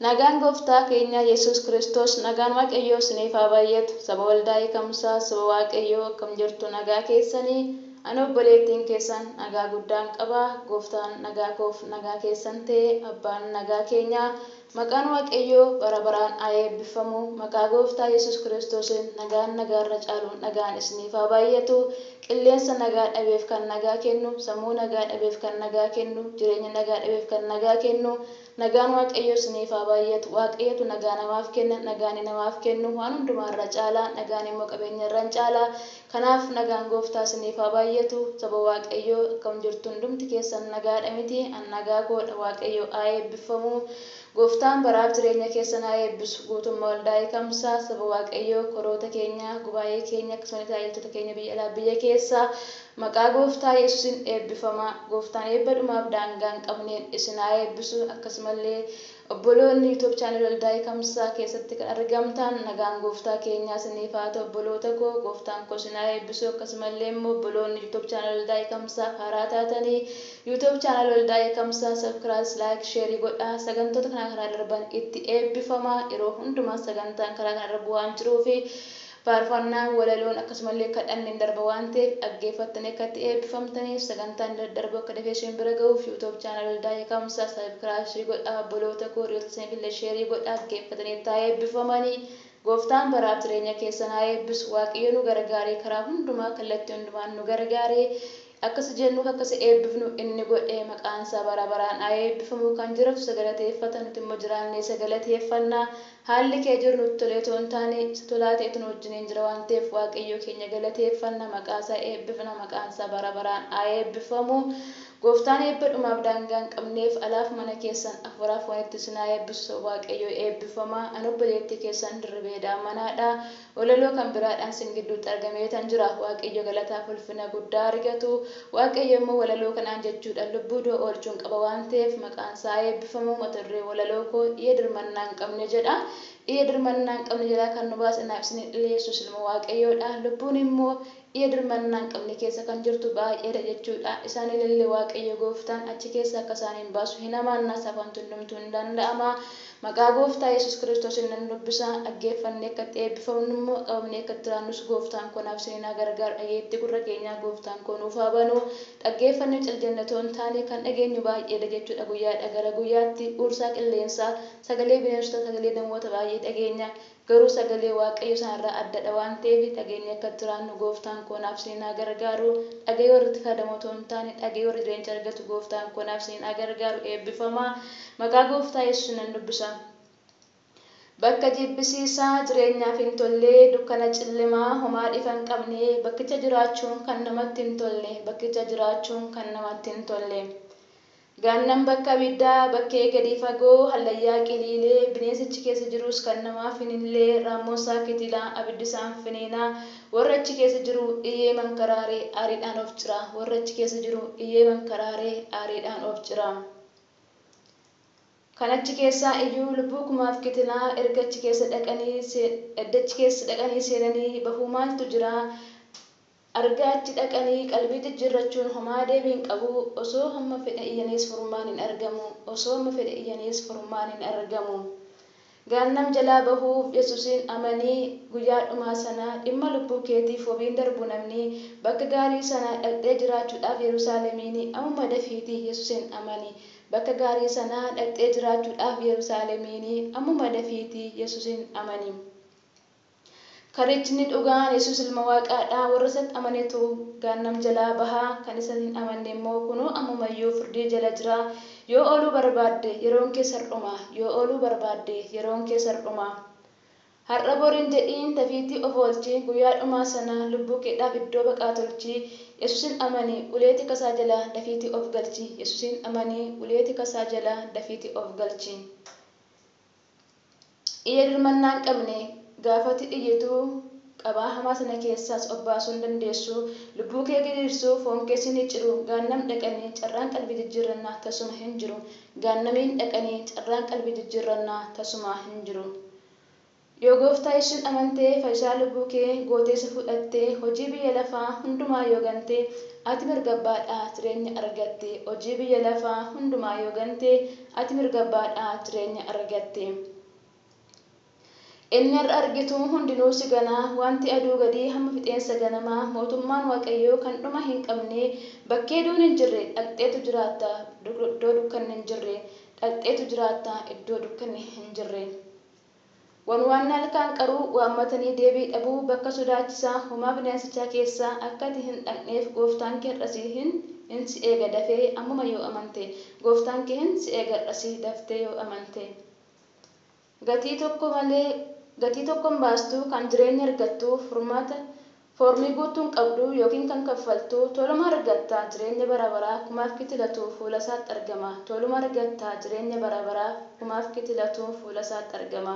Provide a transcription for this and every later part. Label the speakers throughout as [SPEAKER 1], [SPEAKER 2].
[SPEAKER 1] Nagaan gooftaa keenyaa yesuus kiristoos nagaan waaqayyoo isiniif haa baay'atu saba waldaa hiikamsaa saba waaqayyoo akkam jirtu nagaa keessanii ani obboleettiin keessan nagaa guddaan qaba gooftaan nagaa koof nagaa keessan ta'e abbaan nagaa keenyaa Maqaan Waaqayyoo bara baraan haa eebbiffamu. Maqaa Gooftaa Yesuus Kiristoosiin nagaan nagaa irra caaluun nagaan isiniif haa baay'atu. Qilleensa nagaa dhabeef kan nagaa kennu, sammuu nagaa dhabeef kan nagaa kennu, jireenya nagaa dhabeef kan nagaa kennu, nagaan Waaqayyoo isiniif haa baay'atu. Waaqayyotu nagaa namaaf kenna. Nagaani namaaf kennu waan hundumaa irra caala. Nagaan immoo qabeenya irra in caala. Kanaaf nagaan gooftaa isiniif haa baayyatu saba waaqayyoo akkam jirtu hundumti keessan nagaadha miti an nagaa koodha waaqayyoo haa eebbiffamu gooftaan baraaf jireenya keessan haa eebbisu guutummaa waldaa ekamsaa saba waaqayyoo koroota keenya gubaa'ee keenya akkasumani taajiltoota keenya biyya alaaf biyya keessaa maqaa gooftaa yesusin eebbifamaa gooftaan eebba dhumaaf daangaa hin qabneen isin haa eebbisu akkasumallee Obboloonni YouTube channel Waldaa Hiikamsaa keessatti kan argamtaan nagaan gooftaa keenyaa isiniif haa ta'u obboloota koo gooftaan koo isin haa eebbisu akkasumallee immoo obboloonni YouTube channel Waldaa Hiikamsaaf haaraa taatanii YouTube channel Waldaa Hiikamsaa subcras like share godhaa sagantoota kanaa karaa darban itti eebbifamaa yeroo hundumaa sagantaan karaa kanarra bu'aan jiruufi Faarfannaan, walaloon akkasumallee kadhanni in darba waan ta'eef dhaggeeffattanii akka itti eebbifamtaniif sagantaan daddarbu akka dafee isin bira ga'uuf YouTube channel Waldaa Hiikamsaa subcribe ishii godhaa obboloota koo hiriyoota keessaniifillee share godhaa dhaggeeffatanii itti haa eebbifamanii Gooftaan baraaf jireenya keessan haa eebbisu Waaqayyo nu gargaaree karaa hundumaa kallattii hundumaan nu gargaaree Akka si jennuuf akka si eebbifnu inni godhe maqaan isaa bara baraan haa eebbifamu kan jiratu isa galateeffata nuti immoo jiraannee isa galateeffanna haalli kee jiru nutti tolee otoo hin taane isa tolaa ta'etu nu wajjiniin jira waan ta'eef waaqayyoo keenya galateeffanna maqaa isaa eebbifna maqaan isaa bara baraan haa eebbifamu gooftaan eebba dhumaaf daangaa hin qabneef alaaf mana keessan afuuraaf foonitti isin haa eebbisu saba waaqayyoo eebbifamaa ani obboleettii keessan Dirribee Daamanaadha Walaloo kan biraadhaan sin gidduutti argameetan jira. Waaqayyo galataaf ulfina guddaa argatu. Waaqayyo immoo walaloo kanaan jechuudhaan lubbuu du'a oolchuun qaba waan ta'eef maqaansaa haa eebbifamu. Mata dureen walaloo koo Iyya Dirmannaa Hin Qabne jedha. Iyya dirmannaa hin qabne jalaa kan nu baase naaf isiniif dhiyeessus ilma Waaqayyoodha. Lubbuun immoo Biyya dirmannaa hin qabne keessa kan jirtu baay'ee dha jechuu dha. Isaan ilille Waaqayyo gooftaan achi keessa akka isaan hin baasu hin amaanna, safantu hundumtuu hin danda'ama. Maqaa gooftaa Yesuus Kiristoosiin nan dubbisa, dhaggeeffannee akka itti eebbifamnu immoo qabamnee akka itti jiraannus gooftaan koo naaf isiniin haa gargaaru. Dhageettii gurra keenyaa gooftaan koo nuuf haa banu. Dhaggeeffannee cal jennee otoo hin taane kan dhageenyu baay'ee dha jechuu dha. Guyyaadhaa gara guyyaatti huursaa qilleensaa, sagalee bineensotaa, sagalee namoota baay'ee dhageenya. Garuu sagalee Waaqayyo sana irraa adda dha waan ta'eef dhageenyee akka jiraannu gooftaan koo naaf isiniin haa gargaaru. Dhaga'ee warri itti fayyadamu otoo hin taane dhaga'ee warri jireenya argatu gooftaan koo naaf isiniin haa gargaaru eebbifamaa. Maqaa gooftaa yesuusin nan dubbisa. Bakka jibbisiisaa, jireenyaaf hin tolle, dukkana cillimaa, homaa dhifa hin qabne, bakkicha jiraachuun kan namatti hin tolle, bakkicha jiraachuun kan namatti hin tolle. Gaannam bakka abiddaa, bakkee gadii fagoo, hallayyaa qiliilee, bineensi achi keessa jirus kan namaa finillee, raammoon isaa kitila, abiddi isaan finiina, warri achi keessa jiru iyee mankaraare aariidhaan of cira, warri achi keessa jiru iyee mankaraare aariidhaan of cira. Kan achi keessaa iyyuu lubbuu kumaaf kitila, erga achi keessa dhaqanii, edda achi keessa dhaqanii seenanii bahuu maaltu jira? Argaa achi dhaqanii qalbii jijjirrachuun homaa deebii hin qabu osoo hamma fedhe iyyaniis furmaan hin argamu osoo hamma fedhe iyyaniis furmaan hin argamu gaannam jalaa bahuuf yesusin amanii guyyaa dhumaa sana dhimma lubbuu keetiif wabiin darbu namni bakka gaarii sana dhaqxee jiraachuudhaaf yerusaalemiin amuma dafiiti yesusin amani bakka gaarii sana dhaqxee jiraachuudhaaf yerusaalemiin amuma dafiiti yesusin amani. Karichni dhugaan Yesuus Ilma Waaqaa dha, warra isatti amanetu Gaannam jalaa baha, kan isa hin amanne immoo kunoo ammuma iyyuu firdii jala jira. Yoo ooluu barbaadde, yeroon kees har'uma. Yoo ooluu barbaadde, yeroon kees har'uma. Har'a bor hin jedhiin, dafiitii of oolchi, guyyaa dhumaa sana lubbuu keedhaaf iddoo baqaa tolchi. Yesuusin amani, ulee tika isaa jala dafiitii of galchi. Yesuusin amani, ulee tika isaa jala dafiitii of galchi. Iyya dirmannaa hin qabne gaafa ati iyyitu qabaa hamaa sana keessaas of baasuu hin dandeessu. Lubbuu kee gidirsuu, foon kee si micciru, Gaannam dhaqanii carraan qalbii jijjiirrannaa tasuma hin jiru. Gaannamiin dhaqanii carraan qalbii jijjiirrannaa tasumaa hin jiru. Yoo Gooftaa Yesuusiin amantee, Fayyisaa lubbuu kee gootee isa fudhattee, hojii biyya lafaa hundumaa yoo gantee, ati mirga abbaadhaa jireenya argatte. Hojii biyya lafaa hundumaa yoo gantee, Ati mirga abbaa dhaa jireenya argatte. Inni har'a argitu hundinuu si gana, wanti aduu gadii hamma fixeensa ganamaa, mootummaan Waaqayyoo kan dhuma hin qabne, bakkee duun hin jirre dhaqxeetu jiraatta, iddoo dukkanni hin jirre dhaqxeetu jiraatta, iddoo dukkanni hin jirre. Wan waan halkaan qaruu waammatanii deebii dhabuu bakka sodaachisaa homaa bineensichaa keessa akka ati hin dhaqneef gooftaan kee hardha si hin in si eega dafee ammuma yoo amante gooftaan kee hin si eega hardha si daftee yoo amante gatii tokko malee gatii tokko hin baastuu kan jireenya argattuu furmaata Foormii guuttuu hin qabdu ykn kan kaffaltu Tooluma Argatta Jireenya Bara Baraa Kumaaf Kitilatu Fuula isaatti argama Tooluma Argatta Jireenya Bara Baraa Kumaaf Kitilatu Fuula isaatti argama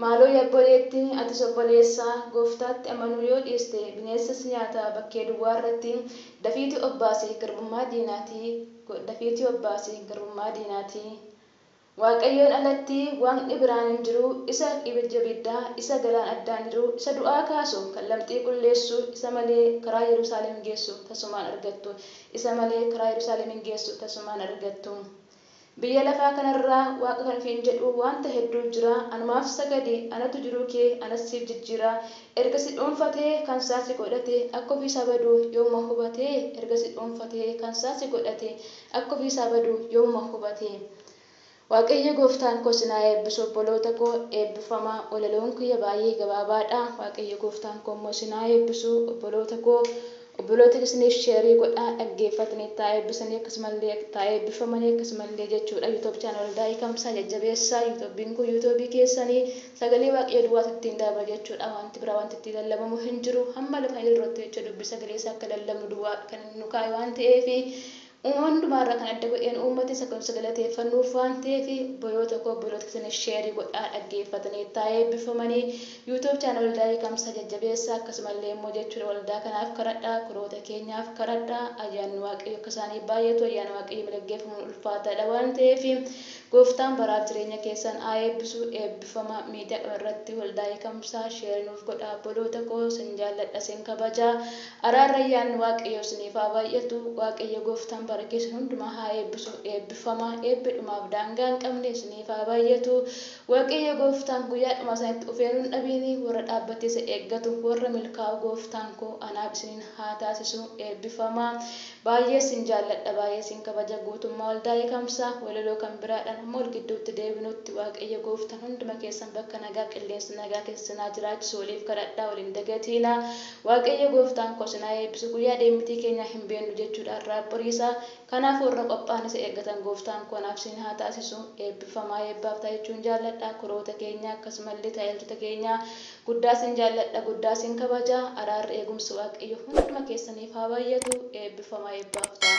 [SPEAKER 1] Maaloo ya obboleetti atis obboleessa Gooftaatti amanuu yoo dhiiste Bineensa si nyaata bakkee duwwaa irratti Dafiiti obbaasi garbummaa diinaatii Dafiiti obbaasi garbummaa diinaatii Waaqayyoon alatti Waaqni biraan hin jiru, isa ibidja ibiddaa, isa galaan addaan jiru, isa du'aa kaasu, kan lamxii qulleessu, isa malee karaa Yerusaalem geessu tasumaa hin argattu, isa malee karaa Yerusaalem hin geessu tasumaa hin argattu. Biyya lafaa kana irra Waaqa kan ofiin jedhu wanta hedduu jira, anumaaf sagadi, anatu jiruu kee anas siif jijjiira, erga si dhuunfatee kan isaa si godhate, akka ofii isaa badu yoomuma hubate, erga si dhuunfatee kan isaa si godhate, Akka ofii isaa badu yoomuma hubate. Waaqayyo gooftaan koo sin haa eebbisu obboloota koo eebbifamaa walaloon kiyya baay'ee gabaabaadha waaqayyo gooftaan koo immoo sin haa eebbisu obboloota koo obboloota keessaniif sheerii godhaa dhaggeeffatanii itti haa eebbisanii akkasumallee itti haa eebbifamanii akkasumallee jechuudha yuutuub chaanal waldaa hiikamsaa jajjabeessaa yuutuubiin kun yuutuubii keessanii Sagalee Waaqayyoo duwwaatu ittiin darba jechuudha. Wanti biraa wanti ittiin lallabamu hin jiru. Hamma lafa hin jirrutti jecha dubbii sagalee isaa akka lallabnu duwwaa kan inni nu kaa'e waan ta'eef, uumama hundumaa irra kan adda godheen uummata isa akka nuti isa galateeffannuuf waan ta'eef, obboloota koo obboloota keessaniif share godhaa dhaggeeffatanii itti haa eebbifamanii. YouTube channel Waldaa Hiikamsaa jajjabeessaa akkasuma illee immoo jechuudha waldaa kanaaf kadhadhaa, firoota keenyaaf kadhadhaa, ayyaanni Waaqayyoo akka isaaniif baay'atu, ayyaana Waaqayyoon malee gaggeeffamuun ulfaataadha waan ta'eef, Gooftaan baraaf jireenya keessan haa eebbisu eebbifama media dhuma irratti waldaa hiikamsaa share nuuf godhaa obboloota koo sin jaalladha sin kabaja araarri ayyaanni waaqayyoo siniif haa baay'atu waaqayyo gooftaan bara keessan hundumaa haa eebbisu eebbifama eebbi dhumaaf daangaa hin qabne siniif haa baay'atu waaqayyo gooftaan guyyaa dhumaa sanitti ufeeruu hin dhabiini warra dhaabbatee isa eeggatu warra milkaa'u gooftaan koo anaaf isiniin haa taasisu eebbifama Baay'ee sin jaalladha baay'ee sin kabaja guutummaa waldaa eekamsaa walaloo kan biraadhan mall gidduutti deebinuutti waaqayyo gooftan hunduma keessan bakka nagaa qilleensa nagaa keessa sin haa jiraachisu waliif kadhadhaa wal hin dagatiinaa waaqayyo gooftaan koo sin haa eebbisu guyyaa deemmitii keenyaa hin beennu jechuudha har'aaf boriisaa kanaafuu warra qophaa'an isa eeggatan gooftaan koo naaf sin haa taasisu eebbifamaa eebbaaf ta'a jechuun jaalladha kuroota keenyaa akkasumallee tajaajiltoota keenyaa Guddaa sin jaalladha guddaa sin kabaja araarri eegumsi waaqayyo hunduma keessaniif haa baayyatu eebbifama eebbaaf ta'a.